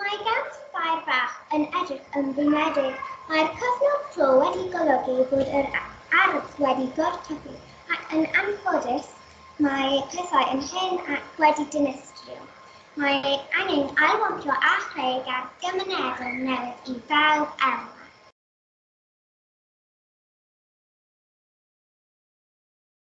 Mae gan Fair Bach yn edrych yn flinedig. Mae'r cyfnod clo wedi golygu bod yr ardd wedi gorthygu ac yn anffodus mae pethau yn hen ac wedi dinistrio. Mae angen ailwampio a chreu gardd gymunedol newydd i bawb elwa.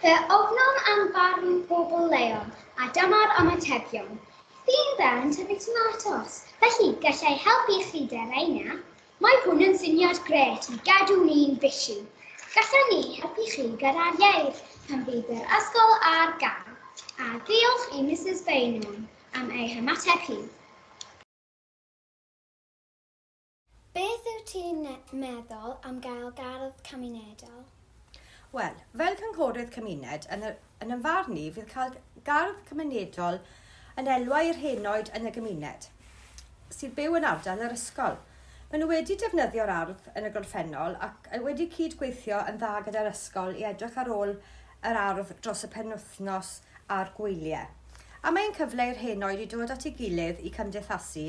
Fe ofnom am barn pobl leol, a dyma'r ymatebion. Theme fel yn tyfu tomatos, felly gallai helpu chi Deraina. Mae hwn yn syniad grêt i gadw ni'n busy. Gallan ni helpu chi gyda'r ieir pan fydd yr ysgol ar gael. A diolch i Misus Beynon am ei hymateb hi. Beth wyt ti'n meddwl am gael gardd cymunedol? Wel, fel cynghorydd cymuned, yn, yr, yn y farn i, fydd cael gardd cymunedol yn elwa i'r henoed yn y gymuned sydd byw yn ardal yr ysgol. Maen nhw wedi defnyddio'r ardd yn y gorffennol ac wedi cyd-gweithio yn dda gyda'r ysgol i edrych ar ôl yr ardd dros y penwythnos a'r gwyliau. A mae'n cyfle i'r henoed i dod at ei gilydd i cymdeithasu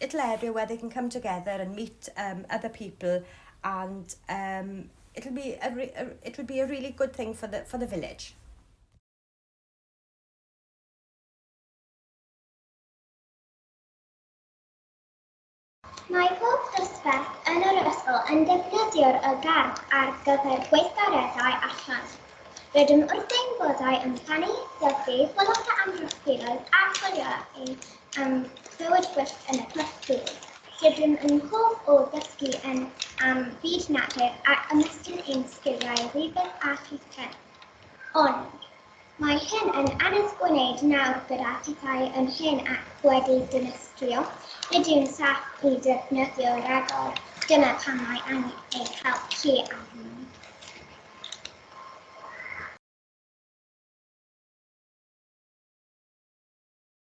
It led where they can come together and meet um, other people and um, it'll be a, a, it would be a really good thing for the, for the village. Mae pob dosbarth yn yr ysgol yn defnyddio'r ygad ar gyfer gweithgareddau allan. Rydym wrth ein boddau yn plannu, dyfu, boloda amgylchfiloedd a chwilio ein am bywyd gwyllt yn y Pwll Dŵr. Rydym yn hoff o ddysgu yn am fyd natur a ymestyn ein sgiliau rifydd a llithren. Ond, mae hyn yn anodd gwneud nawr gyda phethau yn hen ac wedi dinistrio, nid yw'n saff i ddefnyddio ragor, dyna pam mae angen eich help chi ar hyn.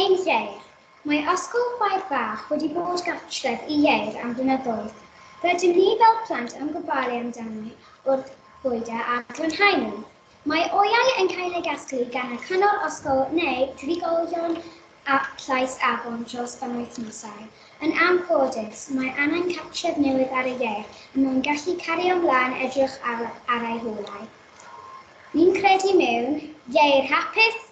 Ein Ieir. Mae Ysgol Chwaer Fach wedi bod gartref i Ieir am flynyddoedd. Rydym ni fel plant yn gofalu amdani wrth fwydo a glanhau nhw. Mae oeau yn cael eu casglu gan y Cyngor Ysgol neu drigolion Llais Afon dros benwythnosau. Yn anffodus, mae angen cartref newydd ar y Ieir er mwyn gallu cario mlaen edrych ar ei hôlau. Ni'n credu mewn Ieir hapus,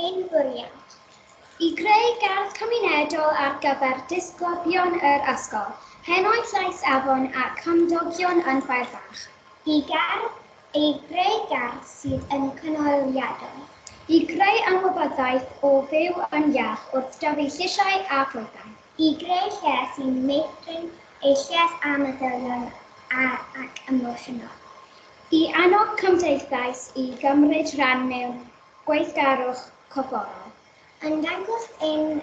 Ein bwriad. I greu gardd cymunedol ar gyfer disgyblion yr ysgol, Henoed Llais Afon a chymdogion yn Fair Fach. Y gerdd, I greu gardd sydd yn gynaliadwy. I greu ymwybyddiaeth o fyw yn iach wrth dyfu llysiau a phloedau. I greu lle sy'n meithrin eu lles a meddyliol ac emosiynol. I annog cymdeithas i gymryd rhan mewn gweithgarwch corfforol. Yn dangos ein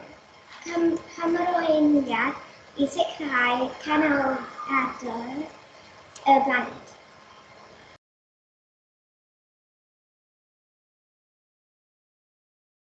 hymrwymiad i sicrhau canoliadau'r blaned.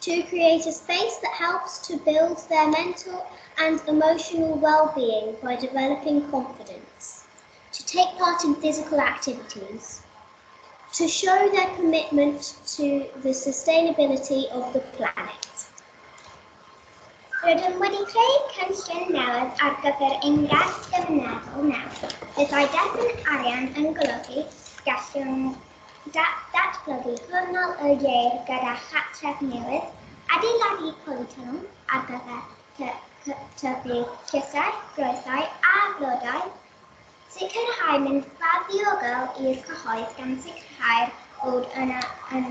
to create a space that helps to build their mental and emotional well-being by developing confidence, to take part in physical activities, to show their commitment to the sustainability of the planet. Rydym wedi creu cynllun newydd ar gyfer ein iaith gymunedol nawr. Byddai derbyn arian yn golygu gallwn Datblygu gornel y ieir gyda chartref newydd, adeiladu polytwnnel ar gyfer tyfu llysiau, groethau a blodau, sicrhau mynydfa ddiogel i'r cyhoedd gan sicrhau'r bod yna yn